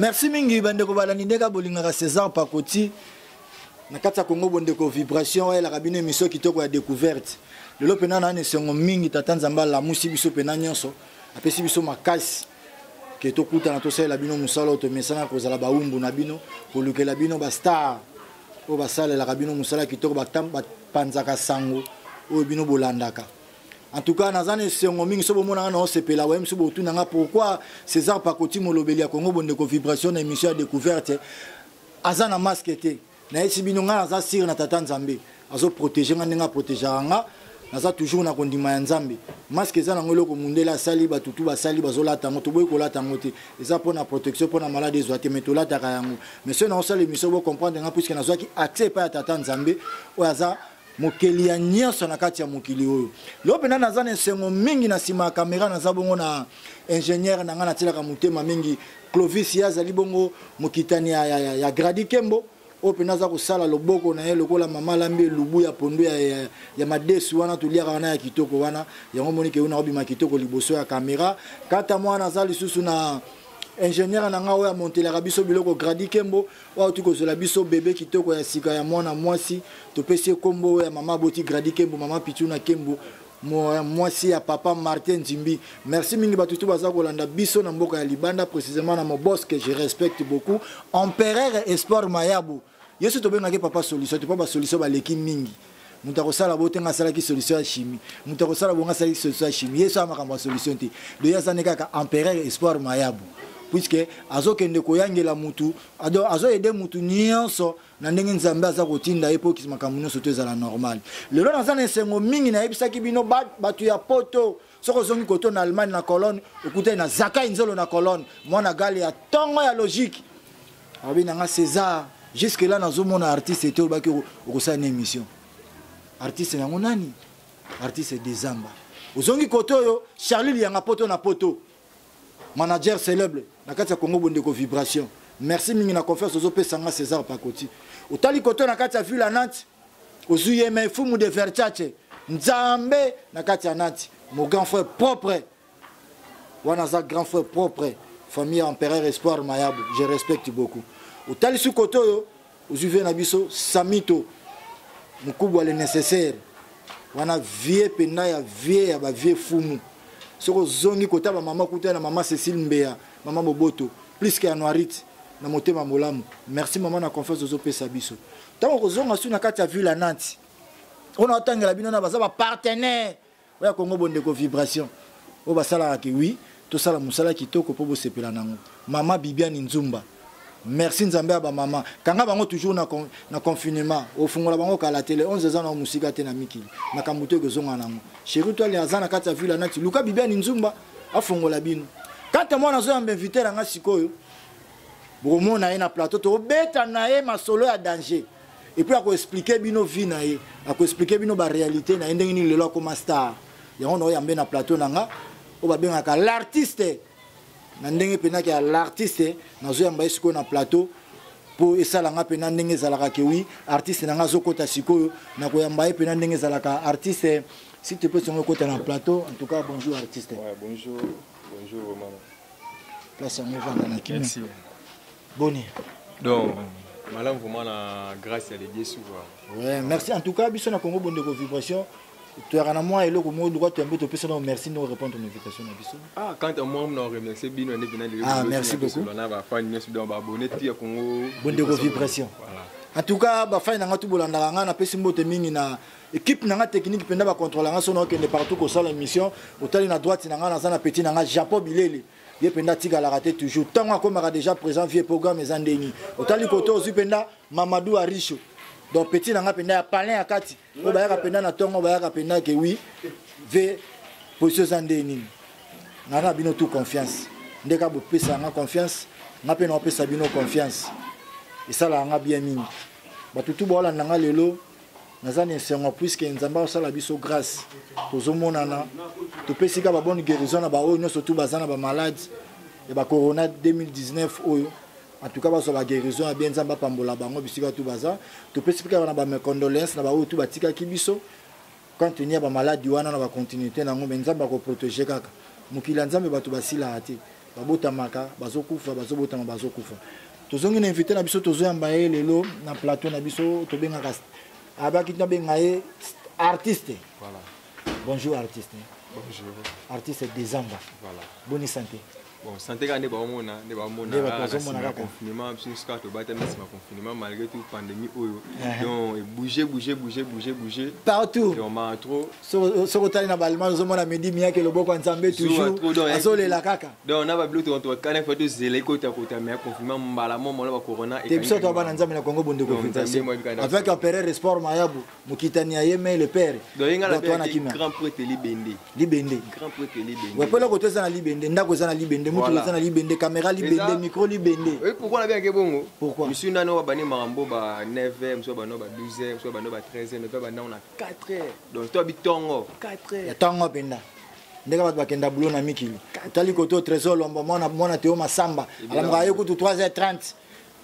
merci mingi bandeko balandi ndenge bolingaka césar pakoti na kati ya congo bondeko vibration oyelaka bino emission kitoko ya découverte lelo mpena na na esengo mingi tata nzambe alamusi biso mpena nyonso apesi biso makasi ke tokutana tosalela bino mosala oyo tomesana kozala baumbu na bino kolukela bino bastar oyo basalelaka bino mosala kitoko bapanzaka sango oyo bino bolandaka en tout cas naza na esengo mingi so bomona nga naosepela waye mosusu botuna nga pourquoi césar pakoti molobeli ya congo bondeko vibration na émission ya découverte aza na masque te nayesi bino ngai naza sire na tata nzambe azo protege ngai ndenge aprotegeaka nga naza toujours na kondima ya nzambe maske eza nango eloko mundele asali bato tu basali bazolata yango toboyi kolata yango te eza mpona protection mpona malade ezwa te mai tolataka yango mais soki naosala émission bocomprendre nga puiske nazwaki accès epai ya tata nzambe oyo aza mokeli ya nyonso na kati ya mokili oyo lelo mpenza naza na esengo mingi na nsima ya kamera naza bongo na ingénieur na ngai natyelaka motema mingi clovis ye azali bongo mokitani ya, ya, ya, ya gradi kembo oyo mpenza aza kosala loboko na ye lokola mama alambi elubu ya pondo ya, ya, ya madesu wana toliaka wana ya kitoko wana yango omoni ke yo nakobima kitoko liboso ya kamera kata mwana aza lisusu na ingénieur na ngai oyo amontelaka biso biloko gradi kembo oyo auti kozwela biso bebe kitoko ya sika ya mwana mwasi topesi ye nkombo oyo ya mama aboti gradi kembo mama pituna kembo mwasi ya papa martin nzimbi merci mingi bato tu baza kolanda biso na mboka ya libanda précisément na mobosque je respecte beaucoup empereur espoir mayabo yesu tobengaki papa solution te mpo basolution baleki mingi moto akosala bo te ngai asalaki solution ya chimie moto akosala bo ngai asalaki solution ya chimie ye so ya makambo ya solution te doye aza nde kaka empereur espoir mayabu puiske azokende koyangela mutu azoyede mutu nyonso na ndenge nzambe aza kotinda ye mpo makambo nyonso to ezala normal lelo naza na esengo mingi nayebisaki bino bato ya poto soki ozongi koto na allemagne na colonne okutani na zakai nzolo na colonne mwana gale ya ntongo ya logique abi na nga césar jusque là nazomona artiste te olobaki okosala na émission artiste yango nani artiste desamba ozongi koto oyo charlie liyanga poto na poto manager célèbre na kati ya congo bondeko vibration merci mingi na confiance ozopesa nga césar pakoti otali koto na kati ya ville ya nantes ozwi ye mai fumu de verchace nzambe na kati ya nati mon grand frère propre wana aza grand frère propre famille ya empereur espoir mayabu je respecte beaucoup otalisi kote oyo ozwi vie na biso samito mokubwa le nécessaire wana vie mpenza ya vie ya bavie fumu soki ozongi kota bamama kuta na mama cécile mbeya mama boboto plus ke anuarite na motema molamu merci mama na confiance ozopesa biso ntango kozonga su na kati ya ville ya nanti ona otangela bino na baza bapartenaire oya kongo bondeko vibration oyo basalaka ke wi tosala mosala kitoko mpo bosepela nango mama bibiani nzumba merci nzambe ya bamama kanga bango toujours na, con, na confinement ofungola bango kala te le 11 eza nao mosika te na mikili makambo to ekozonga nango sheri toali aza na kati ya ville anati luka bibiani nzumba afongola bino kanta mwana azoyamba invite na ngai sikoyo bokomona ye na plateau tokobeta na ye masolo ya danger epuis akoexplike bino vie na ye akoexplike bino barealité na ye ndenge nini lelo akoma star yango naoyambe na plateau na nga oyo babengaka l'artiste na ndenge mpenaki ya l'artiste nazoyamba ye sikoyo na plateau mpo esala nga mpena ndenge ezalaka kewi artiste na nga azokɔta sikoyo na koyamba ye mpena ndenge ezalaka artiste si te peut songo ekɔta na plateau en tout cas bonjour artiste ouais, bonjour. Bonjour maman. Place yango vanda na kimia. Merci. Boni. Donc malamu vraiment na grâce ya Dieu souvent. Ouais, merci en tout cas biso na Congo bonde ko vibration. toyaka na mwa eloko moko luka toyambi topesa na merci no répondre na invitation na biso ah quand à moi na remercier bino nde bina lelo ah merci beaucoup na ba fan nyonso donc ba abonné ti ya Congo bonde ko vibration voilà en tout cas ba fan na nga tu bolandaka nga na pesi mbote mingi na equipe na nga technique mpenza bacontrôla nga soki naokende partout kosala émission otali na droite na nga naza na petit na nga japon bilele ye mpenza atikalaka te toujours ntango akomaka déjà présent vie programme eza ndeni otali kote ozwi mpenza mamadou aricho donc petit na nga mpenza ya palin ya kati oyo bayaka mpenza na ntongo bayaka mpenza ke wi ve position eza nde nini nga na bino tout confiance nde ka bopesaka nga confiance nga mpe naopesa bino confiance esalaka nga bien mingi bato tu baolanda nga lelo naza na esengo puiske nzambe akosala biso grâce tozomonana topesi ka babone guérison na baoyo nyonso tu baza na bamalade ya bacorona 2019 oyo en tout cas bazwa baguérison ya bien nzambe apambola bango bisika tu baza topesi mpe kaka na bamecondoléance na baoyo tu batikaki biso quand teni ya bamaladi wana na bacontinuité na yango me nzambe akoprotege kaka mokili ya nzambe bato basilaka te babotamaka bazokufa bazobotama bazokufa tozongi na invité na biso tozoyamba ye lelo na plateau na biso tobengaka abaki nabenga ye artiste voilà. bonjour artiste bonjour artiste desamba voilà. boni santé bon santé kaka nde baomona nde baomonaa confinement biso nyonso kaka tobatami nsima confinement malgré tout pandémie oyo donc ebouge bouge bouge bouge bouge partout vraiment trop soki otali na balmage ozomona midi miyake loboko ya nzambe toujours azolela kaka donc na babilo tokana fa tozela ekotakota me aconfirma mbala mo mona bacorona te biso toa bana nzambe na congo bondeko fixation avec empereur esport mayabu mokitani ya ye me le père wana kimia grand prêtre libende libende grand prêtre libende ouais pela koto eza na libende ndako eza na libende mutu eza na libende caméra libende micro libende oui pourquoi na bien ke bongo pourquoi monsieur nano wa bane marambo ba 9e soit bano ba 12e soit bano ba 13e pe bana on a 4 heures donc to bitongo 4 heures tongo penda ndenge bato bakenda bulo na mikili otali kote o trésor lombo mwana mwana teo masamba alamuka aye kutu 3h30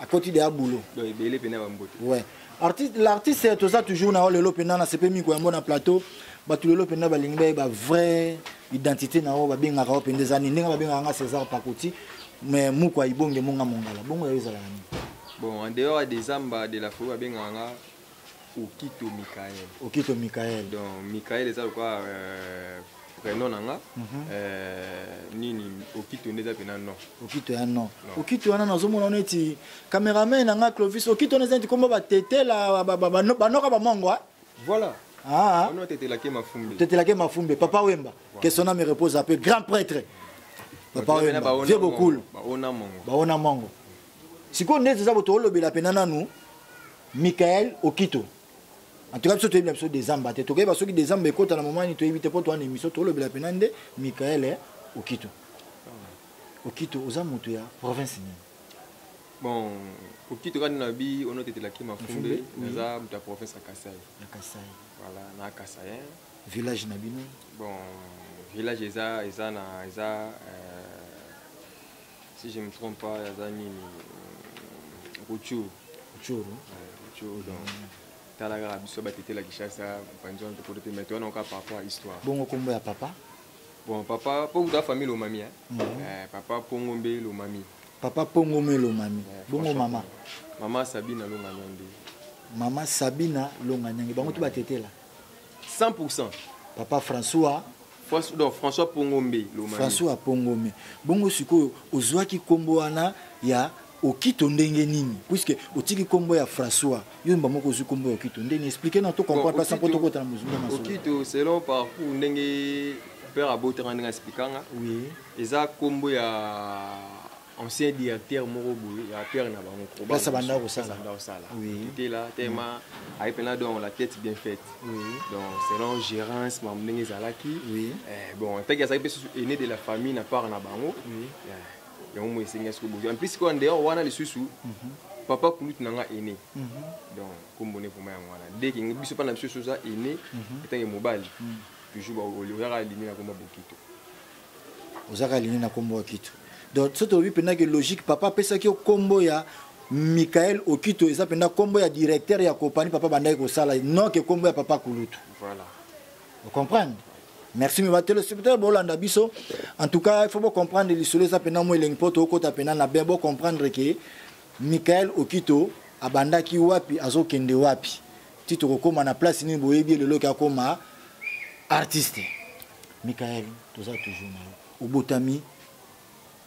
akoti deya bulo ebele mpena bambote ouais artiste l'artiste toza toujours na yo lelo mpena na sepe miko yango na plateau bato lelo mpena balingi bayeba vrai identité na yo babengaka yo mpenda eza nini ndenge babengaka nga césar pakoti mais moko aibonge monga mongala bongo yayo ezalaka nini bon en dehors ya desamba de la folie babengaka nga Okito Michael. Okito Michael. Donc Michael eza lokola euh, prénom na nga mm -hmm. euh, nini okito nde eza mpena non okito ya non okito wana nazomona neti cameraman na nga clovis okito wana eza neti kombo batetela banoka bamongo eh? voilà ah. ono tetelake mafumbi tetelake mafumbi papa wemba voilà. que son âme repose un peu grand prêtre papa wemba vieux bokulu baona mongo baona mongo sikoyo nde eza botoolobela mpena nanu Michael Okito. En tout cas, biso toyebi na biso dezamba te. Tokoyeba soki dezamba ekota na moment nini toyebi te mpo towana émission tolobela mpena nde Michael eh, Okito. Okito, oza moto ya province nini? Bon, Okito kani na bi ono tete la kima fumbe, naza moto ya province ya Kasaï. Ya Kasaï. Voilà, na Kasaï. Village na bino? Bon, village eza eza na eza euh, si je me trompe pas aza nini euh, ruchuru ruchuru ruchuru donc mm. tala kaka biso batetela kishasa panzi wana tokolo te mais toyana oka par rapport à histoire bongo kombo ya papa bon papa po kuta famille lomami eh? mm -hmm. eh, papa pongo mbe lomami papa pongo mbe lomami eh, bongo mama mama sabina longanyange mama sabina longanyange bango to batetela 100 papa françois François Pongombe Lomami. François Pongombe. Bongo sikoyo ozwaki kombo wana ya Okito ndenge nini? Puisque otiki kombo ya François, yo mba moko ozwi kombo ya Okito. Ndenge expliquer na to comprendre pas sans poto kota na muzunga na Okito selon parcours ndenge père abotanga ndenge expliquer nga. Oui. Eza kombo ya ancien directeur moko boye ya père na bango place abanda kosala tela tema mm. aye mpena donc la tête bien faite donc selon gérance mamu ndenge ezalaki eh, bon ntaki azalaki mpe susu aine de la famille na part na bango eh, yango moi esengi soki bozwa mplis koya ndeyore wana lisusu mhm. papa kulutu na nga aine mhm. donc kombo ne vraimen yango wana deke biso mpa na biso soza aine etange mhm. mobali toujours oyaka alimi na koma bokito oza kaka lini na kombo okito donc soki tolobi mpenza ke logique papa apesaki yo kombo ya michael okito eza mpenza kombo ya directeur ya kopani papa bandaki kosala non ke kombo ya papa kulutu voilà. ocomprendre merci me batelespectateur bolanda biso en tout cas il faut bocomprendre lisolo eza mpenza mo elengi mpo tokota mpenza na bien bocomprendre ke michael okito abandaki wapi azokende wapi ti tokokóma na place nini boyebi ye lelo ke akóma artiste Michael, toza toujours na yo. Obotami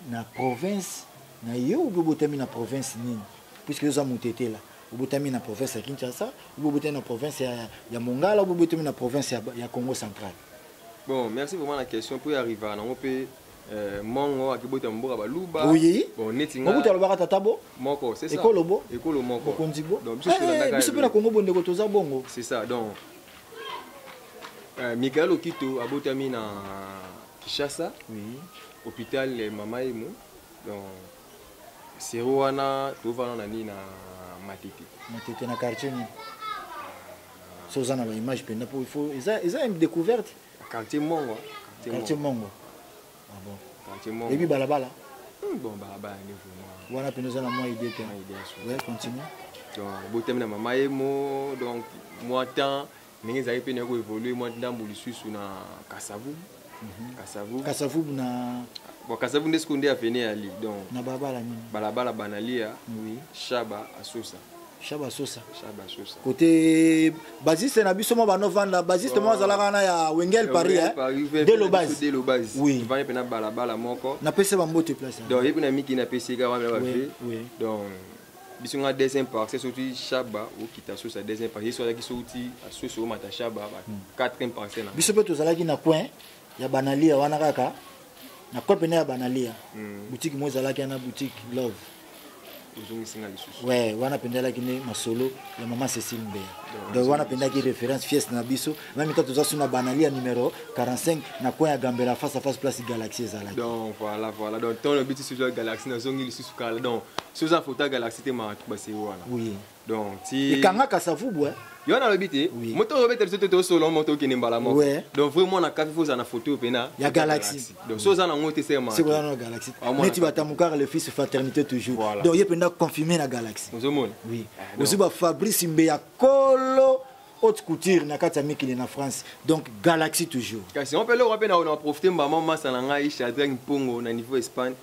na province na yo ou obotami na province nini? Puisque oza mutetela. Obotami na province ya Kinshasa, ou obotami na province ya, ya Mongala, ou obotami na province ya, ya Congo central. Bon, merci vraiment la question pour y arriver na ngope euh, mongo akibota mboka baluba. Oui. Bon, neti nga. Mokuta lobaka tata bo. Moko, c'est ça. Ekolo bo. Ekolo moko. Bokonzi bo. Donc biso tolanda eh, kaka. Biso pe na Congo bondeko toza bongo. C'est ça. Donc Euh, Michael Okito abotami na Kishasa oui. hôpital eh, Mama Emo donc sero wana tovana na nini na Matete Matete na quartier nini so oza na baimage mpenza mpo il faut eza eza une découverte quartier Mongo quartier Mongo Ah bon. Quartier Mongo. Yebi balabala. Hmm, bon balabala ni vraiment. Wana pena za na moi idée te. Moi idée ya solo. Ouais, continue. Donc botami na mama ye mo donc moi temps ndenge ezali mpe nayoki koévolue mwa ndambo lisusu na kasavu mhm. kasavu kasavu na bon kasavu nde sikoyo nde aveni ali donc na balabala nini balabala banalia oui. shaba asusa shaba sosa shaba sosa côté basiste na biso mo bano vanda basiste mo azala kana ya Wengel Paris hein de lo base de lo base oui vanda pena bala bala moko na pese ba mbote place hein. donc yebi na miki na pese ka wana ba vie donc biso nga deuxième partie soki shaba okita sosa deuxième partie yesu azalaki soki asosi omata shaba ba hmm. quatrième partie na biso mpe tozalaki na coin ya banalia wana kaka na coin pene ya banalia hmm. boutique mo ezalaki na boutique love ouais, wana pendalaki ne masolo ya mama cecile mbeya donc wana pendaki référence fieste na biso na mita toza suna banali ya numero 45 na coin ya gambela face à face place galaxie ezalaki donc voilà voilà donc ntango lobi ti soza galaxie nazongi lisusu kala donc soza fota galaxie te makambo basei wana oui donc ti ekangaka savubu eh yo wana alobi te moto ozobeta biso te tosolo moto okende mbala moko donc vrai mwana kafi fo oza na photo oyo mpena ya galaxie donc so oza nango te semasikoza na galaxie ah, neti batamukaka le fils fraternité toujours donc ye mpenza confirme na galaxie ozomona oui ah, ozwi ba fabrice mbe ya kolo haute couture na kati ya mikili na france donc galaxie toujours kasi yango mpe eloko mpe na profite mbama masa na ngai shadrag mpongo na niveau espagne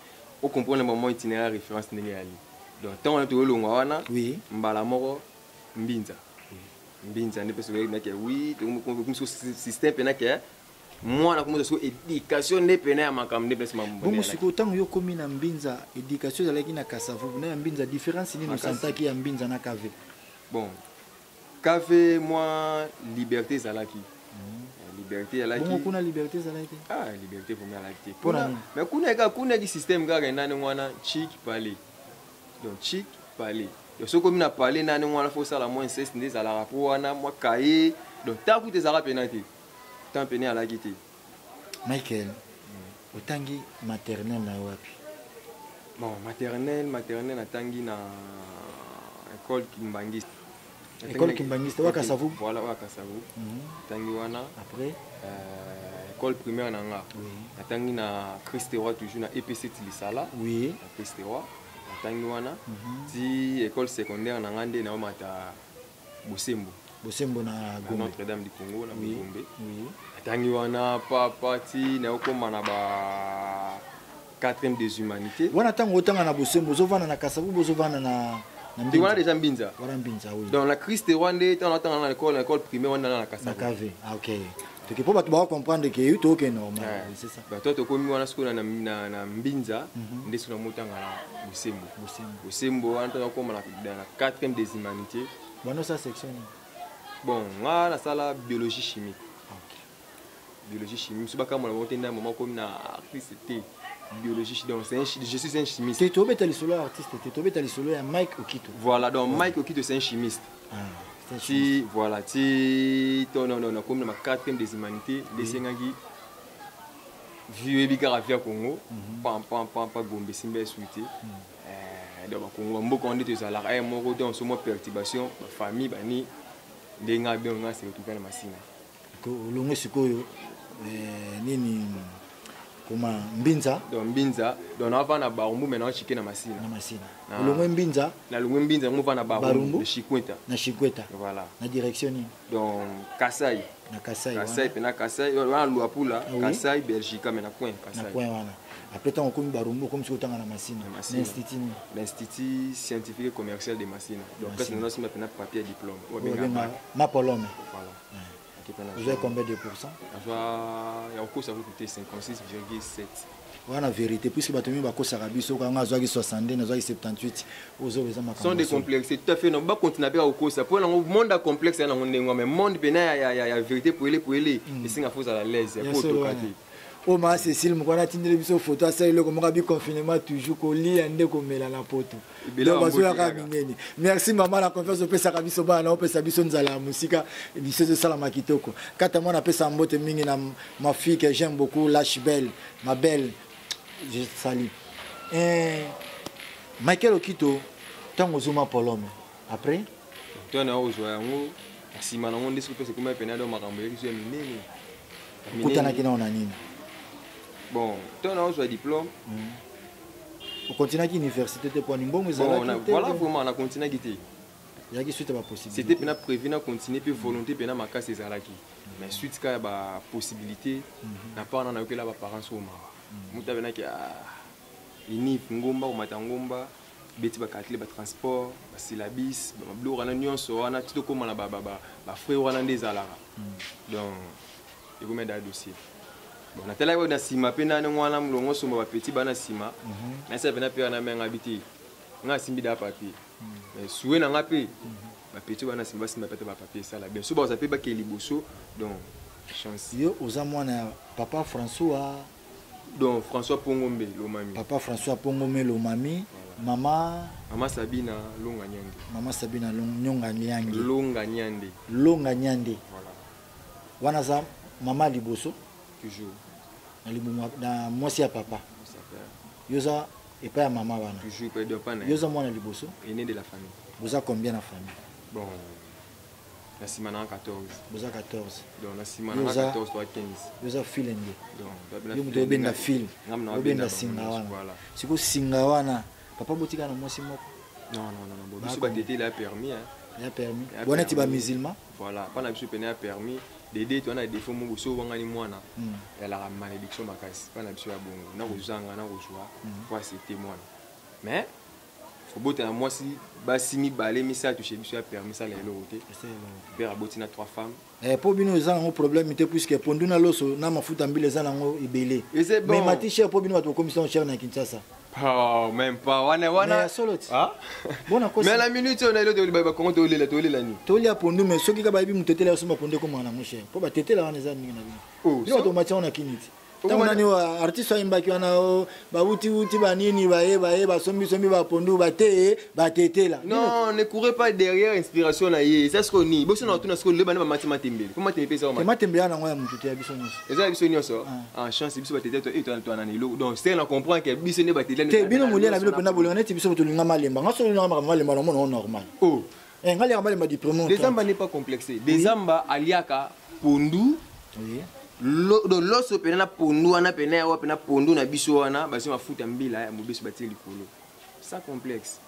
o comprendre ba moi itinéraire référence ndenge yali donc ntango wana tokolongwa wana oui. mbala moko mbinza mbinza nde mpe soki nake oui tokomisa système mpe nake mwana komisa soki éducation nde mpena ya makambo nde mpesa bongo sikoyo ntango yo okomi na mbinza éducation ezalaki na kasavubu na ya mbinza différence nini osantaki ya mbinza na kave bon Café moi liberté ezalaki. liberté alaki bongo kuna liberté ezalaki te ah liberté vraimen alaki te kuna mais kuna eka kuna eki système kaka endani wana chic palais donc chic palais donc soki omi na palais nani wana fo osala mwa inceste nde ezalaka mpo wana mwa kaye donc ntango kuta ezalaka mpena te ntango mpena alaki te Michael, otangi maternelle na wapi? Bon, maternelle, maternelle natangi na école Kimbanguiste. École Kimbanguiste, wa Kasavu. Voilà, wa Kasavu. Mm -hmm. Tangi wana. Après euh, école primaire na nga. Oui. Natangi na Christ Roi toujours na EPC Tilisala. Oui. Na Christ Roi. Natangi wana. Mm -hmm. Ti école secondaire na nga nde na mata bosembo bosembo na gombe notre dame du congo na oui. gombe oui. atangi wana papa ti na okoma na ba quatrième des humanités wana ntango otanga na bosembo ozovanda na kasavu bozovanda na te wana deja mbinza wana mbinza oui. donc na christ rwande ntango natanga na lekole na lekole primaire wana na na kasavu na kave ah, okay. toke mpo bato bakokomprendre ke yo toke normalbato tokomi wana sikoyo na mbinza mhm. nde so namotanga na bosembo bosembo wana ntango akoma na 4e des humanité bana osala section nini bon nga nasala biologie chimique biologie chimie mosusu bakambola bango te nda mama komi na artiste te biologie donc je suis un chimiste te tobeta lisolo ya artiste te tobeta lisolo ya mike okito voilà donc mike okito c'est un chimiste ah, ti voilà ti to non non non comme na quatrième des humanités desengaki vieux ebi kaka via Congo mhm. pam pam pam pa gombe simba suite mhm. eh, donc bakongo mboka wana nde tozalaka eh, moko donc somo perturbation bafamille bani ndenge abenga se retrouve na masina olongwe sikoyo eh, nini koma mbinza donc mbinza donc nava na barumbu mai naochike na masina na masina ah. olongwe mbinza nalongwe mbinza yango va na barumbu na chikweta na chikweta voilà na direction nini donc kasai na kasai kasai mpe na kasai wana luapula ah kasai belgica mai na coin kasai na coin wana après ntango okomi barumbu okomi soki otanga na masina na institut nini na institut scientifique et commercial de masina donc place nanasimba mpe na papier diplôme oyo abenga mapolome voilà ozwai combien de pourcent azwa ya kokosa kuku te 56,7 wana vérité puisque bato mingi bakosaka biso kanga azwaki 62 nazwaki 78 ozoba eza makambo de complexe tout à fait ba continue mpe akokosa mpo nango monde ya complexe ya nango ndenge mais monde mpena ya vérité poele poele esenga fo ozala laise ya kotoka te oyo maa cecile mokwana atindeli biso foto asala eloko moko abi confinement toujours kolia nde komela na poto donc bazoyaka minene merci mama na confiance opesaka biso bana na opesa biso nzala ya mosika biso ezosalama kitoko kata mwana apesaka mbote mingi na mafille que j'aime beaucoup lache belle ma belle je sali eh, michael okito ntango ozoma polome après to na ozwa yango na nsima nango nde soki mpesa ekoma epene ado makambo eyokisi ya minene okutanaki nao na nini bon to na ozwa diplôme hmm. okontinaki université te poni mbongo ezalaki voilà vraiment na kontinaki te ezalaki suite ya bapossibilité c'était mpena prévu na continuer mpe volonté mpena makasi ezalaki mais suite kaka ya bapossibilité mhm. na part na nayokela baparents oyo mawa moto abenaki ah, iniv ngomba komata ngomba beti bacalcule batransport basilabis babiloko wana nyonso wana ti tokóma na bafrai wana nde ezalaka hmm. donc ekomi ada dossier bon natalaki na nsima mpe nani wana molongo osomba bapeti bana nsima mhm. nasala mpena mpe wana mengabi te ngai asimbi da papier hmm. sue na ngai mpe mhm. bapeti bana nsima basimba mpe ata bapapier esala bien so baoza mpe bakei liboso donc chance yo oza mwana ya papa françois donc françois pongombe lomami papa françois pongombe lomami mama mama sabina longa nyande mama sabina nyonga nyange longa nyande longa nyande voilà. wana aza mama liboso toujours na libumu na mwasi ya papa yo oza epai ya mama wana toujours yo oza mwana liboso aîné de la famille boza combien na famille bon na sima na 14 boza 14 donc na sima na 14 to 15 yoza filenge yo moto obenda fil obenda singa wana siko singa wana papa botika na mwasi moko non non non bon biso batete la permis hein ya permis wana ti ba musulman voilà pana biso pene ya permis dede to wana défaut moko so wangani mwana hmm. ya la malédiction makasi pana biso ya bongo na kozanga na kozwa hmm. kwa c'était mwana mais kobota na mwasi basi mibale misato chez biso ya père misala eloko te père aboti na trois femmes eh, mpo bino eza nango problème te puiske pondu na loso na mafuta mbila eza nango ebele mais mati cher mpo bino bato bokomisa yango cher na kinshasa Oh, même pas wana wana solo ti ah? bona kosi mais la minute on a le de ba kongo to lela to lela ni to lia pondu mais soki ka ba bi mutetela suma pondu ko mwana mon cher po ba tetela wana eza ninga na bino oh, yo to macha on a kiniti ntango nani artiste ayembaki wana bawutiwuti banini baye baye basombisombi bapondu bateye batetela non ne courez pas derrière inspiration na ye eza sikoyo nini bosi na batuna sikoyo leba nde bamati matembele mpo matembele mpe ezaa matembele ya nango ya motu te ya biso nyonso eza ya biso nyonso en chance biso batetela to eto twana na eloko donc sere na comprendre ke biso nde batelela te bino molia na bino mpenza bolinga neti biso tolingama lemba nga so olingama makambo malemba na omona ngo normal eh, ngai liaka malemba du premier dezamba n'est pas complexé dezamba aliaka pondu oui. loso mpena na pondu wana mpena yawa mpena pondu na biso wana basi mafuta mbila ya mobeso batie likolo sans complexe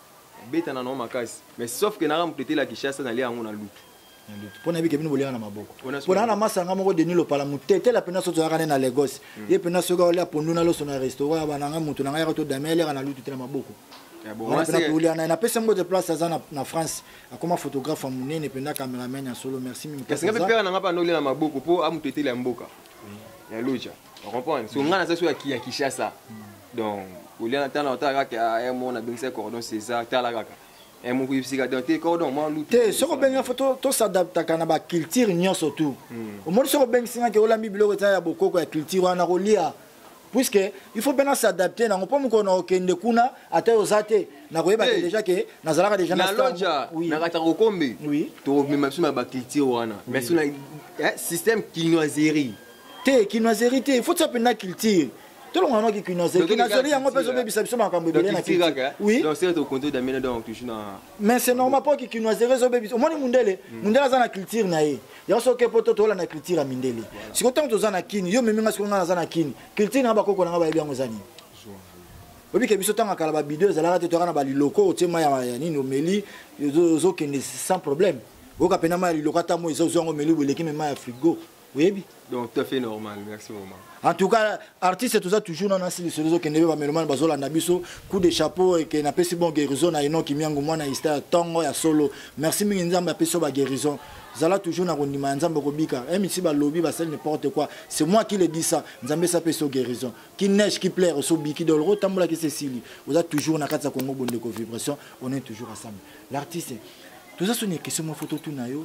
betana nango makasi mais sauf ke naka moto etela kishasa nalia yango na lutu mpo na bike bino boliaka na maboko mpo naa na masanga moko deni lopala motetela mpena soki toyaka ne na lagos hmm. ye mpena soki aolia pondu na loso na restaurant ya bananga moto na ngai yaka to dame aliaka na lutu te na maboko Eh, napesi yango te place aza na france akoma photographe ya monene mpenza cameraman ya solo merci kasi ngai mpe pere na ngai mpe andoli na maboko mpo amoto etele ya mboka ya loja ocomprendre so ngai naza so ya kinshasa donc oliana tana otala kaka ya eh, mona bengisa cordon césar tala kaka eh, mokoyebisika don te cordon mwa lutu te soki obengi fo tosadaptaka na baculture nyonso tout hmm. omoni soki obengisi ngaki olambi biloko eza ya bokoko ya culture wana kolia puisque il faut mpe na s'adapter nango mpo mokolo nakokende kuna ata yo oza te nakoyeba te déjà ke nazalaka déjà na loja na katanga kombe tomema biso na baculture wana mais sona eh, système kinoiserie te kinoiserie te il faut tia mpenza culture tolonga noki kinoiserie kinoiserie yango mpe ezobebisa biso makambo ebele na culture oui donc c'est au compte d'amena donc toujours na mais c'est normal mpo kikinoiserie ezobebisa omoni mundele mm. mundele aza na culture na ye yango soki mpo to toolanda culture ya mindele sikoyo ntango toza na kini yo memi nga sikoyo nga naza na kini culture na bakoko na nga bayebi yango eza nini obike biso ntango akala babido ezalaka te toyaka na baliloko otie mai ya nini omeli ozokende sans problème oyoka mpena mai ya liloko ata moi eza ozwi yango omeli boleki me mai ya frigo oyebi donc tout à fait normal merci vraiment en tout cas artiste toza toujours na nasi lisolo ezokende mpe bamelomane bazolanda biso coup de chapeau eke napesi bon guérison na enoki miango mwana hista tongo ya solo merci mingi nzambe apesi yo baguérison zala toujours na kondima ya nzambe okobika eh, misi balobi basali n'importe quoi c'est moi qui le dis ça nzambe esi apesi yo guérison ki neige ki plaire osi obiki doloro otambolaki se esili oza toujours na kati ya kongo bondeko vibration on est toujours ensemble l'artiste toza soni ya question mwa foto tuna yo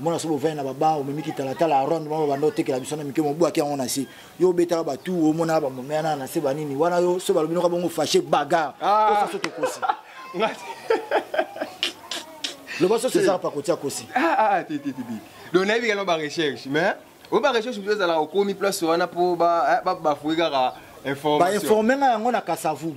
omona soki ovandi na baba omemi kitalatala ya ronde mama banda otekela biso na mike mobwaki yango na se yo obetaka batu omonaka bamomeya na na se banini wana yo soki balobi noka bongo fache bagar ah. osaso tokosi loba soso ezaka pakotia kosi ah, ah, donc nayebi kano barecherche mais oyo barecherche biso ezalaka okomi place wana mpo bafui eh, kaka information bainforme nga yango na kasavu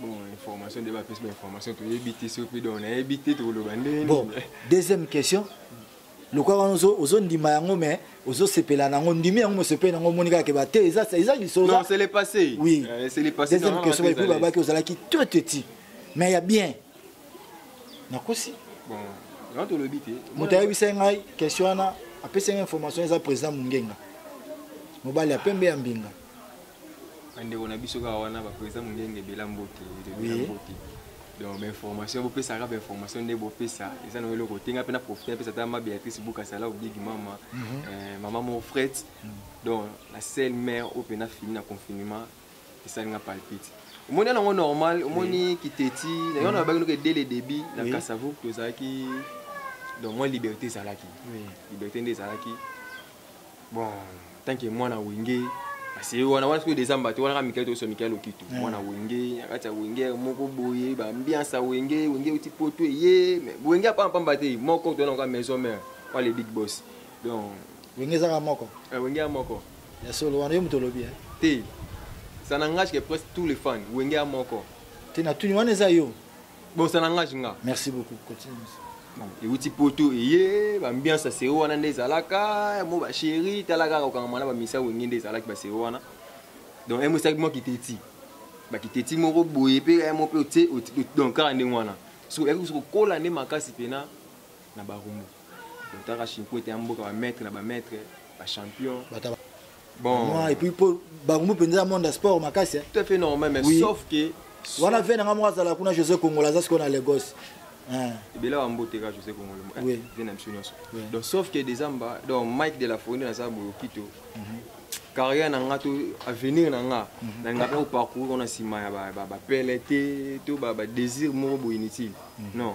bon information nde bapesi bainformation toyebi te soki donc nayebi te tokoloba ndenge bon deuxième question lokola wana ozondima yango mais ozosepela na yango ndimi yango mosepeli yango omoni kaka keba te eza lisoloepassé oui euh, deuxième question epuis babaki ozalaki très petit mais ya bien nakosi moto ayebisai ngai question wana apesi ngai information eza président mongenga mobali ya pembe ya mbinga bandeko na biso kaka wana baprésident mongenge ebela mbote ebela mbote donc bainformation bopesaka bainformation nde bopesa eza nango eloko te nga mpe na profite napesa ata ma béatrice bukasala obigi mama mhm. eh, mama mo frete mhm. donc la seule mère oyo mpe nafini na confinement esali nga palpite omoni yango normal omoni kiteti na yango nabaki noke dès le début na kasavuk tozalaki donc mwa liberté ezalaki liberté nde ezalaki bon tant que mwana wenge aseye wana wana soki desamba te wana kaka mikele tokoso mikele lokitu eh. mwana wenge na kati ya wenge moko boye baambiance ya wenge wenge euti poto eye wenge apampamba te moko toyana kaka maison mare wana le big boss donc wenge ezaka moko eh, wenge ya moko ya solo wana yo moto olobi eh? te ça n'engage que presque tous les fans wenge ya moko te natuni wana eza yo bosa na ngage nga merci beaucoup continue ewuti poto eye bambiance ya sero wana nde ezalaka mo basheri tala kaka kokangama na bamisa wenge nde ezalaki basero wana donc emo esalaki mwa kiteti bakiteti moko boye mpe emo mpe otie donc kaka ndenge wana soki oyaki kusu kokola nde makasi mpena na barumbu otaka shinkwete ya mboka bamaître na bamaître bachampion bon moi et puis pour bango penza monde de sport makasi hein. tout à fait normal mais oui. sauf que wana vie nanga moko azala kuna josé kongola aza sikoyo na lagos hein. ebele wa mbote kaka josé kongola eh, oui. vie na biso nyonso donc sauf que dezamba donc mike de la fourni naza boyokito mm -hmm. carrière na nga to avenir na nga mhm. nalingaka koparcourir ona nsima ya bapele te to badésir moko boye inutile mhm. non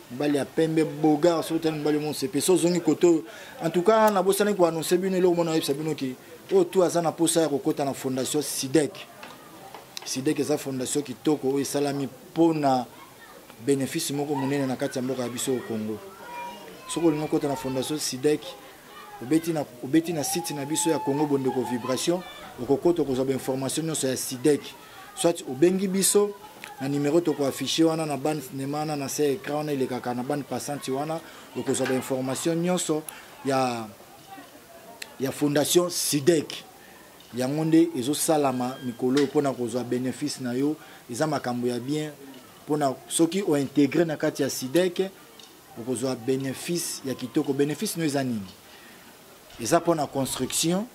mobali ya pembe bogar soki otali mobali omonse mpe so ozongi kote oyo en tout cas nabosani koannonce bino eloko mona oyebisa bino ke oyo tu aza na mposa ya kokɔta na fondation sidek sidek eza fondation kitoko oyo esalami mpo na bénéfice moko monene na kati ya mboka ya biso oyo congo soki olingi okɔta na fondation sidek obeti na, obeti na site na biso ya congo bondeko vibration okokota okozwa bainformation nyonso ya sidek soit obengi biso na numero tokoaffiche wana na bande cinema wana na se écran wana elekaka na bande passante wana okozwa bainformation nyonso ya, ya fondation sidek yango nde ezosalama mikolo oyo mpona kozwa bénéfice na yo eza makambo ya bien mpona soki ointegre na kati ya sidek okozwa bénéfice ya kitoko bénéfice no eza nini eza mpona construction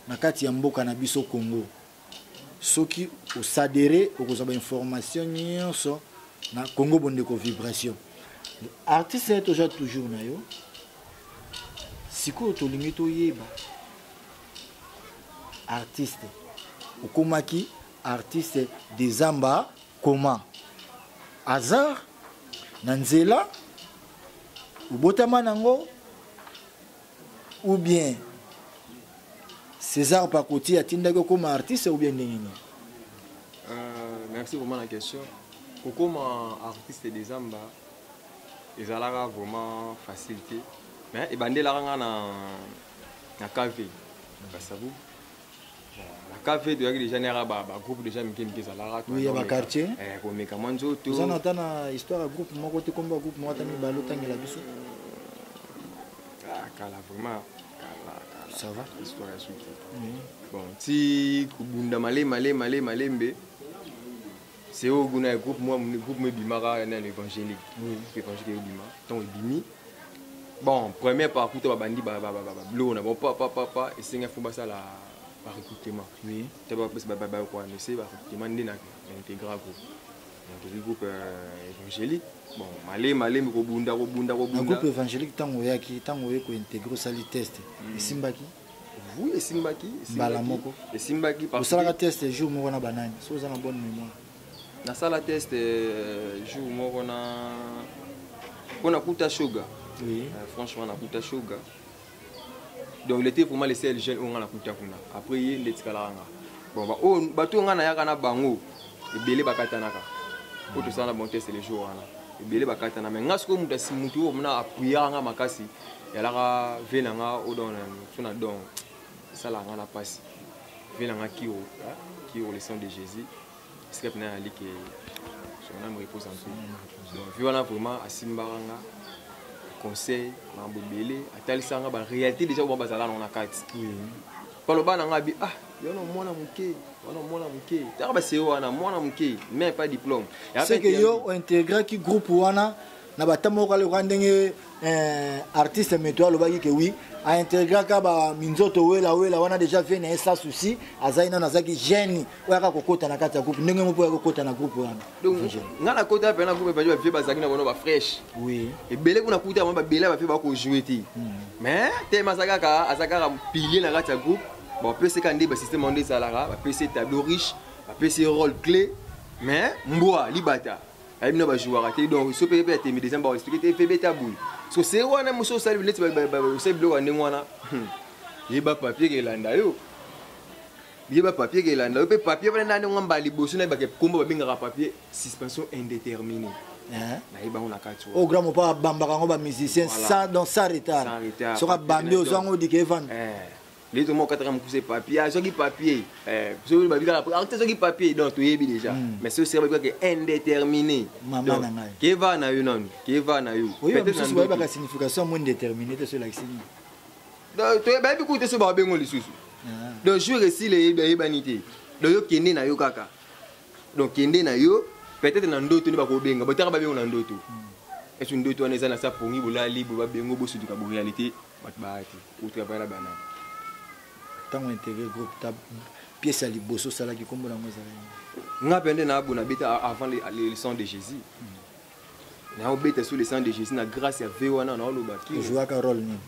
na kati ya mboka na biso congo soki osadere okozwa bainformation nyonso na congo bondeko vibration artiste naye toza toujours na yo sikoyo tolingi toyeba artiste okomaki artiste dezamba comment hasard na nzela obotama nango ou bien césar pakoti atindaki okoma artiste ou bien ndenge nini euh, merci vraiment na question kokoma artiste de zamba ezalaka vraiment facile te mais ebandelaka nga na, na kv na kasabu cafe toyaki déjà na yaka bagroupe déjà mike mike ezalaka ya baquartier eh, komeka mwa nzoto oza na ata na histoire ya groupe moko te kombo ya groupe moko ata mibale otangela biso ah, kala vraiment ça va histoire ya suki bon ti kobunda male male male malembe c'est au goût na groupe moi groupe moi bimaka na l'évangélique oui l'évangélique yo bima tant bimi bon première partie to babandi ba ba ba ba blow na bon pa pa pa pa et c'est faut ça la par recrutement oui tu vas passer ba ba quoi ne c'est par recrutement n'est na intégral groupe donc le groupe euh, évangélique bon malé malé mais ko bunda ko bunda ko bunda groupe évangélique tango yaki tango yeko intégrer sali test mm. esimbaki oui esimbaki mbala moko esimbaki osalaka test jour moko na banani so oza na bonne mémoire nasala test euh, jour moko na mpo nakuta sugar oui. euh, franchement nakuta sugar donc lete vraiment le seul jeune oyo nga nakuta kuna après ye nde etikalaka nga bon baoyo oh, bato oyo nga nayaka na bango ebele bakatanaka mpo tosala na bon test le jour wana ebele bakatana mai nga sikoyo moto moto oyo mona apuyaka nga makasi yalaka vie na nga odon na so na don esalaka nga na mpasi vie na nga kiro kiro le sang de jésus esika mpena nali ke sonam repose en tout donc vie wana vraiment asimbaka nga conseil makambo ebele atalisaka nga baréalité déjà oyo bazala nango na kati baloba na nga bi ah wana mwana moke wana mwana moke taka baseo wana mwana moke mais pas diplôme seke yo ointegraki groupe wana na bata moko aloka ndenge eh, artiste meto alobaki ke wi aintegraka baminzoto wela wela wana deja vie na ye sa souci azali nano azalaki gene oyo aka kokota na kati ya groupe ndenge moko ya kokota na groupe wana nga nakota mpe na groupe ebadi bavie bazalaki na bango bafresh oui ebele kuna kuta bango babele ya bavie bakojoue te hmm. mais tema aza kaka aza kaka pilier na kati ya groupe bapesi ka nde basysteme yango nde ezalaka bapesi tableau riche bapesi role clé mais mbwa libata ayebi na bajouaka te donc so mpe mpe atemi des amba expliqué te mpe beta boye so se wana mosu osali neti osali biloko ya ndenge wana hmm. yeba papier kelanda yo yeba papier kelanda yo mpe papier wana nani ngo mbala liboso na yebaka nkombo babengaka papier suspension indéterminée nayebi bango na kati o grand mopa abambaka yango bamusicien donc sans retard soki abambi ozwa yango odika evanda nde tomo okataka mokuse papier azwaki ah, papier eh, soki babi kaka artiste ah, azwaki papier donc toyebi déjà hmm. mais soki sera babi kaka indéterminé mama na ngai keva na yo nanu keva na yo oyosusu bayebaka signification mo indéterminé te so elakisi nini bayebi kuta so babengo lisusu ah. donc jour esila eyebani te donc yo kende na yo kaka donc kende na yo peut-être na ndoto nde bakobenga botaka babengo na ndoto hmm. esu ndoto wana eza na sa pongi bolali bobabengo bosutuka boréalité bato baaki uta bala bana ntango integre groupe ta pièce ya liboso osalaki nkombo nango ezalaki nga mpe nde naabu nabeta avant le sang de jésus hmm. naobeta sur le sang de jésus na grâce ya ve wana naoloba kijouaka role nini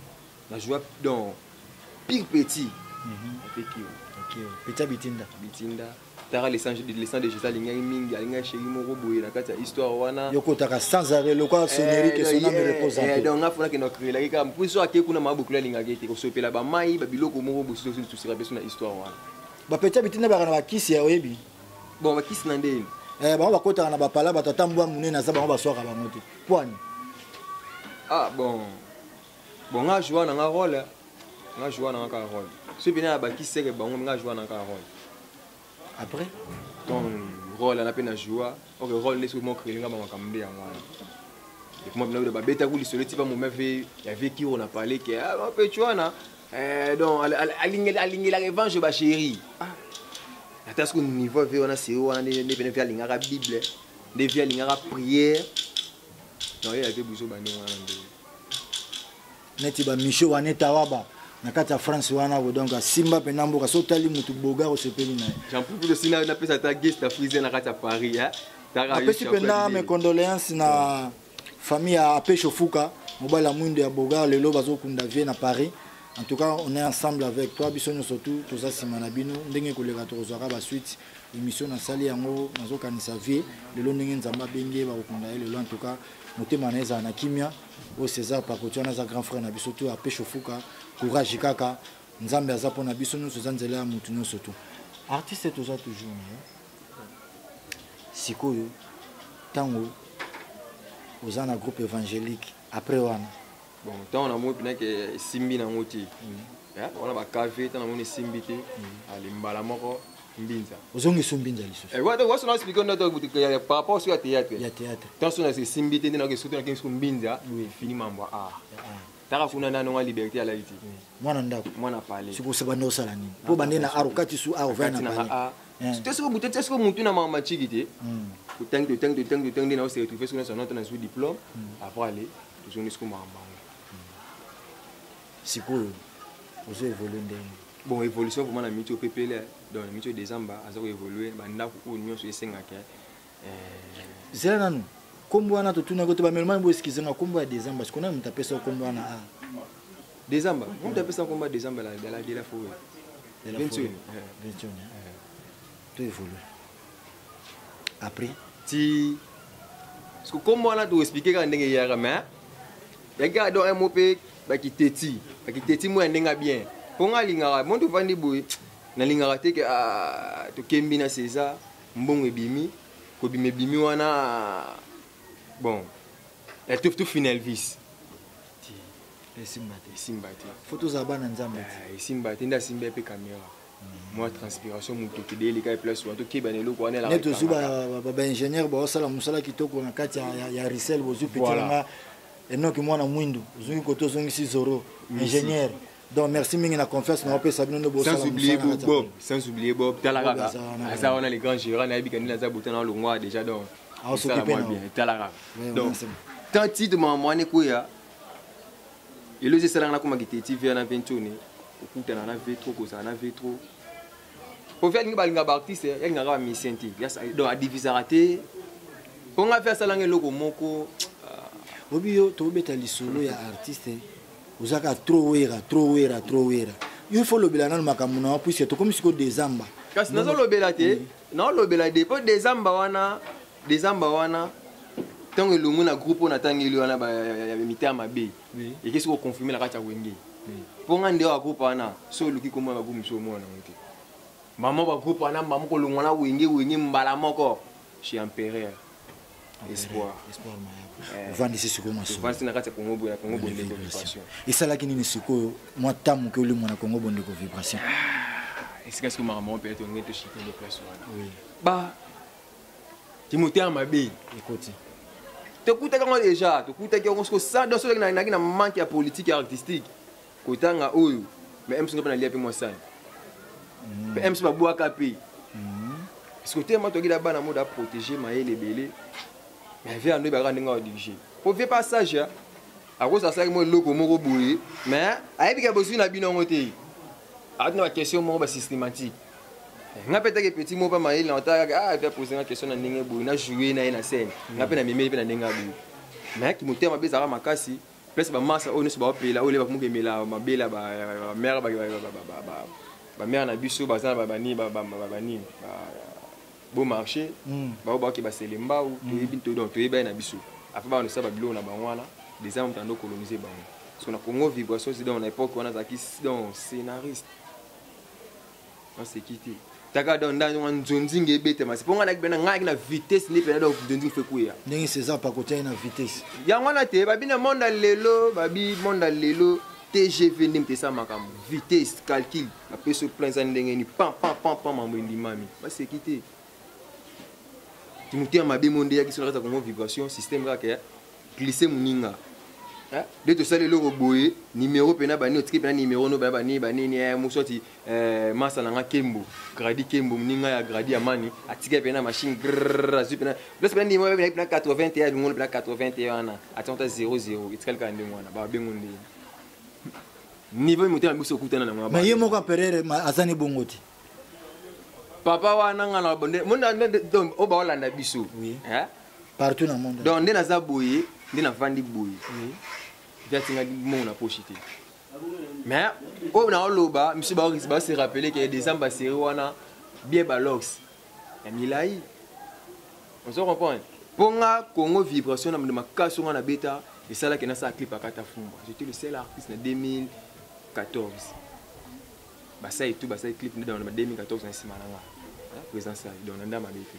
najouak donc pire petit mhm. apekio petit ya bitinda bitinda tala le sang de le sang de Jésus alingaki mingi alingaki chéri moko boye na kati ya histoire wana yo kotaka sans arrêt lokola eh, sonnerie que son âme repose en eh, paix donc nga fona kenda créer laki kaka puis so ake kuna ma bokula alingaki te kosopela ba mai ba biloko moko bosi osi tusira peso na histoire wana ba petit bitina baka na ba kisi ya oyebi bon ba kisi na ndeni eh bango bakotaka na ba pala ba tata mbwa munene aza bango baswaka bango te poani ah bon bon nga joua na nga role nga joua na nga kaka role soki mpena ya bakiseke bango nga joua na nga kaka role après donc role ana mpe na joua ok role nde soki mokele nga bamakambo nde yango wana ekoma bino bino babetaki lisolo etipa mome ve ya vie kiro na pale ke mapeci ah, wana eh, donc alingelaka evange bachéri ah. ata soki niveau ve wana seri wana nde mpena ve alingaka bible nde vie alingaka prière naoyelate buzoba ndenge wana ndenge neti bamisio wana etawaba na kati ya france wana ko donc asimba mpenza mboka so otali motu boga osepeli na ye jampukulo sina napesa ata geste frise na kati ya paris apesi mpenza mes condoléances na famille ya apesho fuka mobali ya mwindo ya boga lelo bazokunda vie na paris en tout cas on est ensemble avec toi biso nyonso tu toza nsima na bino ndenge koleka tokozwaka basuite émission nasali yango nazokanisa vie lelo ndenge nzambe abengi ye bakokunda ye lelo antuka motema na ye ezala na kimia oyo césar pakoti wana aza grand frère na biso to apeshe ofuka courage kaka nzambe aza mpo na biso nyonso eza nzela ya motu nyonso tu artiste toza toujours na ye sikoyo ntango oza na groupe évangélique après wana bon ntango na moi mpena ke esimbi na yango te mm. wana bakave ntango na moni esimbi te mm. ale mbala moko mbinza ozongisi mbinza lisusu eh, wata waso na explique ndo to ya par rapport sur ya théâtre ya théâtre tant son c'est simbi te na ke soto na ke sur mbinza oui fini mambo a ah. ah. taka kuna na nonga liberté ya laiti mwana ndako mwana pale siko se bande osala nini po bande na arokati su a ovana pale ah, eh. te siko butete siko mutu na mama chiki te hmm. utangi utangi utangi utangi na ose retrouver sur na son na su diplôme hmm. après aller tozongi siko makambo yango sikoyo ozo évolue ndenge bon évolution vraiment na miti opepele donc na miti oyo décembre aza koévolue bandako oyo nyonso esengaka eh, zela nanu nkombo wana totunaki ote bamelomani bo eskize nga nkombo ya décembre sikoyo nani moto apesa nkombo wana a ah. décembre moto apesa nkombo ya décembre la dela foye 21 21 to évolue après ti siko kombo wana toexplike kaka ndenge eyaka mais yaki kaka don mo mpe bakiteti bakiteti mo ya ndenge bien mpo ngai alingaka mo tofandi boye nalingaka te ke ah, tokembi na césar mbongo ebimi kobima ebimi wana ah, bon etof tofina elvis esimba te esimba te fo tozala bana nzambe te ah, esimba te nde asimba ye mpe camera mwa transpiration motoki deyeleka ye place wana tokeba na eloko wana neti ozwi baingénieur baosala mosala kitoko na kati ya risel bozwi pitilanga enoki mwana mwindu ozongi kote ozongisi zoro ingénieur donc merci mingi na confiance na opesa bino nde bosala bob sans oublier bob tala kaka aza wana le grand gérant nayebi ka nini aza botana olongwa déjà donc aosoki mpe na tala kaka donc tant titre makambo wana ekweya lelo eza esalaka nakoma kitee tv wana ventone okutana na vetro kozala na vetro kofi alingi balinga baartiste eh, yalingaka bamisien te donc adivisaka te mpo ngai mpe asalanga eloko moko ah. obi yo tobeta lisolo ya artiste ozaka trop wera trop wera trop wera yo ifo olobela nano makambo na yo puiske tokomi sikoyo desamba kasi nazolobela te naolobela de mpo desamba wana Dezamba wana ntango elongwe na groupe oyo natangeli wana ya mitaa mabe ekesi koconfirme na kati ya wenge mpo nga nde wa groupe wana so oluki komona bagroupe mosusu omona nango te mama bagroupe wana mama kolongwa na wenge wenge mbala moko chez empereur espoir eh. ovandisi sikoyo masovandisi na kati ya congo boye na congo bondeko vibration esalaki nini sikoyo mwa ntango moke olimwa na congo bondeko vibration ah, esika sikoyo makambo moko mpe tongete shite nde place wana ba kimotema mabe ekoti tokutaki yango deja tokutaki yango soko sada soki naki na manque ya politique ya artistique kotanga oyo mais mc nga mpe nalia mpe mwa sani mpe hmm. mc babwaka mpe hmm. siko te ma tokila bana mode aprotege mayele ebele mais vie ando ebaka ndenge adirige po vie pas sage akoso asalaki mwa eloko moko boye mais ayebi ke bozwi na bino yango te ati na baquestion moko basystematique eh, nga mpe take petit moko mpa mayele na otala kaka ah, mpe apose nga question na ndenge boye na joue na ye na scène nga mpe na memeli mpe na ndenge ya boye mais kimotema mpe ezalaka makasi place bamasa oyo nyonso baopela oyo lebakomuka emela mabele ya bamere bamere na biso baza na banini bo marché mm. bao baoke basele mbau mm. toyebi to donc toyebi baye na biso après bana tosala babiloko na bango wana des armes tando coloniser bango so na congo vibration si donc na époque wana azalaki donc scénariste naseki te taka donc ndani wana nzonzinga ebetama se mpo ngai nakibena ngai ayaki na vitesse nde mpena donc nzonzinga fe kuya ndenge césar pakoti ayaki na vitesse yango wana te babi na monde ya lelo babi monde ya lelo tgv nde moto esala makambo vitesse calcul napesi yo plan eza ndenge ni pam pam pam pam mambo endimami baseki te timotema mabe mo nde eyaki sonakati ya kongo vibration système kaka ya glisse moninga nde tosali eloko boye nimero mpena bani otiki mpena nimero no baya bani banini eh, moswati eh, masa na nga kembo gradi kembo moninga ya gradi ya mani atika mpena machine azwi mpena place mpena nimero mpena mpena 81 abingolo mpena 81 wana atia ota 00 etikali kaka ndenge wana babengo ndenge niveau motema biso okutana na ngaba ye moko perere azani bongo te papa wana nga na bonde monde donc oba olanda biso hein partout na monde donc nde naza boye nde navandi boye jatinga mongo na poche te mais oyo na oloba misu ba se rappeler que décembre série wana bien balox ya milayi ozo comprendre mpo nga congo vibration na mande makasi nga na beta esalaki nasala clip akata fumba j'étais le seul artiste na 2014 basali tout basali clip nde na 2014 na nsima na nga présence donc na ndamabete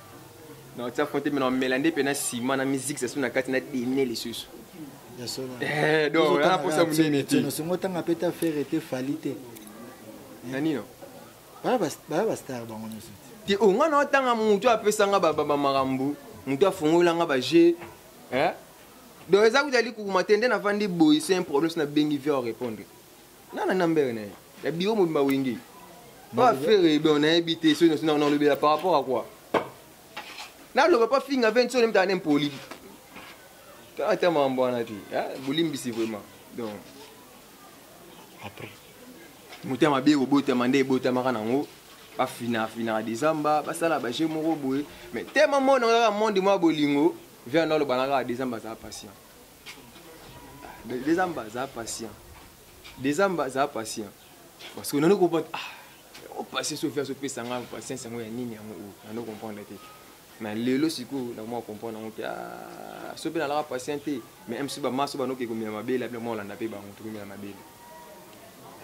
na otia fond te me na omela nde mpe na nsima na musique sasu na kati na dene lisusu eh, donc na posa monene te nosongo otanga mpe ta fere te fali te na nino baya bastar bango nyonso te o oh, ngai na otanga motu apesanga bamakambo motu afungolanga baje eh? donc eza kuta likukuma te nde navandi boye se un problème so nabengi vie orépondre nana na mbere na ye ya biro mobimba wenge pa fere bon nayebi te soki nosi nalobela par rapport à quoi naloba pa finga venti soki nemitana nempoli tala te mambo wana te bolimbisi vraiment donc après motema mabe ekobotama nde ebotamaka nango bafina afinaka decembre basala baje moko boye mais te mamona kaka monde mwa bolingo vianda alobanaka decembre azala patient dezamba aza patient dezamba aza patient parce que nani comprendre ah opatience oyo viaso opesa nga patience yango ya nini yango oyo nani comprendre te mais lelo sikoyo nakomaka comprendre yango mpe ah, so mpe nalaka patient te mais mso bamaso banoki ekomela mabele ape mwa olanda mpe bango tokomela mabele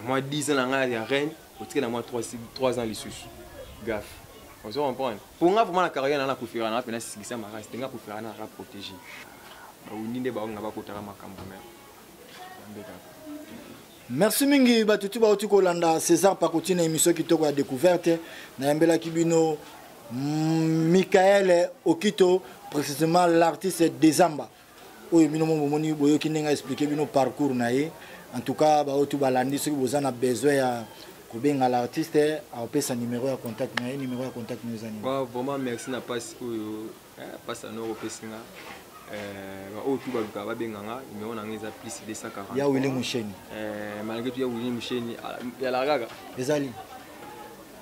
mwa 10 ans na ngai ya reine otikela mwa 3 ans lisusu gafe ozo comprendre mpo nga vraimen na carrière naa nakufira naa mpena sisikisa marasi te nga kufira naa ka protégé bawundi nde baonga bakotaka makambo me yambe kaka merci mingi bato ti bauti kolanda césar pakoti na émission kitoko ya découverte nayambelaki bino mm, michael okito précisément l'artiste desamba oyo bino mo bomoni boyoki ndenge aexplike bino parcours na ye en tout cas baoyo tu balandi soki boza na besoin ya kobenga l'artiste akopesa numero ya contact na ye numero ya contact na eza nini vraiment merci na pasi oyo pasi eh, anoko opesi nga eh, baoyo tu baluka babenga nga numero na nga eza plus 240 ya wili musheni eh, malgré tu ya wili musheni ah, yalakaka ezali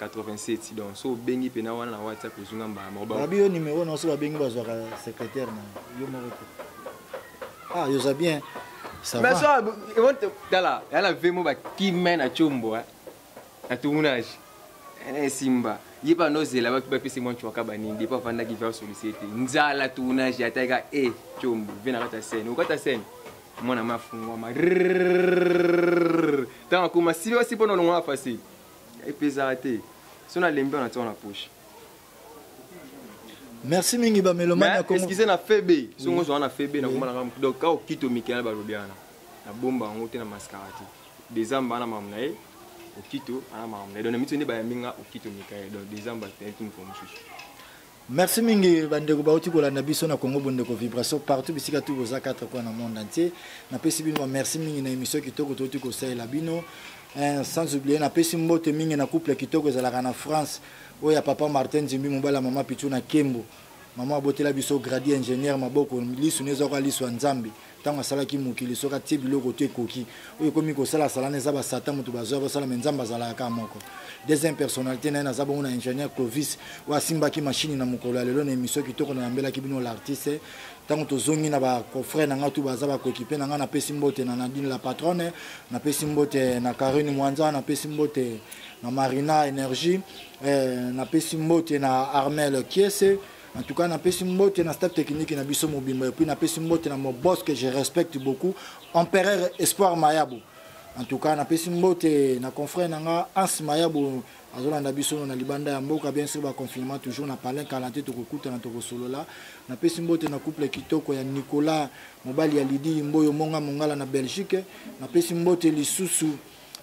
87 donc so obengi pena wana na whatsapp ozwi nga mbala moko babi yo numéro na so babengi bazwaka secrétaire na yo moko te ah yo oza bien ça va tala ya na vemo bakime na combo na tournage eh, esimba ye mpe anozela bapesi mwa ncwaka banini depo afandaki ve asolisi te nzala tournage ataka e eh, combo ve na kata scène okata scène mwana mafungwama ntango akoma sili wasi mpo na olongwa facile epezaka te so nalembi wana tiaka na poche merci mingi bamelomaneexcuse na febe songo ozwa na febe nakoma nanga donc ka okito mikela balobi wana nabomba yango te na maskara te dezamba ana mamu na ye okito ana mamu na ye donc na miso nde bayambi nga okito mikaye donc dezamba tentini po mosusu Merci mingi bandeko bauti kolanda biso na Congo Bondeko Vibration partout bisika tout boza quatre coins na monde entier. Napesi bino merci mingi na émission kitoko toti kosalela bino. Eh, sans oublier napesi mbote mingi na couple kitoko ezalaka na France oyo ya papa Martin Zimbi mobala mama Pichu na Kembo. Mama abotela biso gradi ingénieur maboko lisu nezoka lisu ya Nzambe. ntango asalaki mokili soki atie biloko to ekoki oyo ekomi kosala salana eza basata moto bazwa basala me nzambe azalaka kaka moko deuxième personnalité na ye naza bongo na ingénieur clovis oyo asimbaki mashini na mokolo ya lelo na émission kitoko na yambelaki bino l'artiste ntango tozongi na bacofre na ngai tu baza bakoekipe na ngai napesi mbote na nadine la patronne napesi mbote na carine mwanza napesi mbote na marina énergie eh, napesi mbote na armel kiese En tout cas, napesi mbote na staff technique na biso mobimba et puis napesi mbote na mon boss que je respecte beaucoup, Empereur Espoir Mayabo. En tout cas, napesi mbote na confrère na nga Hans Mayabo azolanda biso na libanda ya mboka bien sûr ba confinement toujours na palin kalante tokokutana tokosolola napesi mbote na couple kitoko ya nicolas mobali ya lidi mboyo monga mongala na belgique napesi mbote lisusu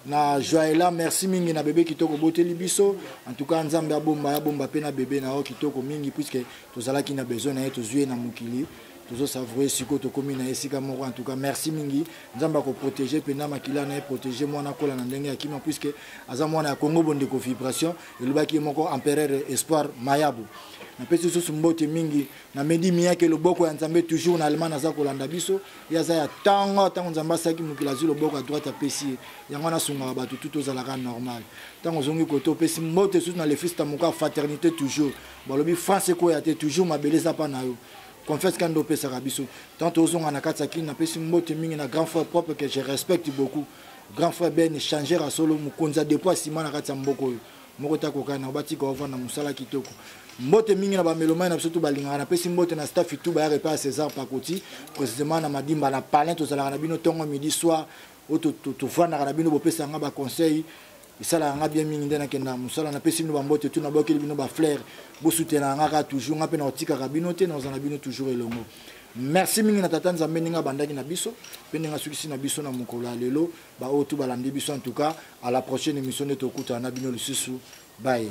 na joaela merci mingi na bebe kitoko boteli biso en tout cas nzambe abomba abomba mpe na bebe na yo kitoko mingi puiske tozalaki na besoin na ye tozwi ye na mokili tozosavoure sikoyo tokomi na esika moko en tout cas merci mingi nzambe akoprotege mpenza makila na ye protege mwana akola na ndenge ya kima puiske aza mwana ya congo bondeko vibration elobaki ye moko empereur espoir mayabu napesi lisusu mbote mingi na medi miyake loboko ya nzambe toujours na allemagne aza kolanda biso ye aza ya ntango ntango nzambe asalaki mokili azwi loboko ya droite apesi ye yango wana asungaka bato tutu ozalaka normal ntango ozongi kote opesi mbote esusu na lefista moka fraternité toujours balobi france ekweya te toujours mabele eza mpa na yo confiance kani nde opesaka biso ntango tozonga na kati ya kini napesi mbote mingi na grand frère propre que je respecte beaucoup grand frère ben changer ya solo mokonzi ya depo ya nsima na kati ya mboka oyo moko te akoka na batika ovanda mosala kitoko mbote mingi na bamelomai na biso to balingaka napesi mbote na staff itu bayaka epai ya césar pakoti précisément na madimba na palin tozalaka na bino ntongo midi soir oyo tofandaka na bino bopesaka nga baconseil esalaka nga bien mingi nde nakendaka mosala napesi bino bambote tu nabwakeli bino bafleur bosutenaka nga kaka toujours nga mpe nakotikaka bino te nakozala na bino toujours elongo merci mingi na tata nzambe ndenge abandaki na biso mpe ndenge asukisi na biso na mokolo ya lelo ba oyo tout balandi biso en tout cas à la prochaine émission nde tokutana na bino lisusu bye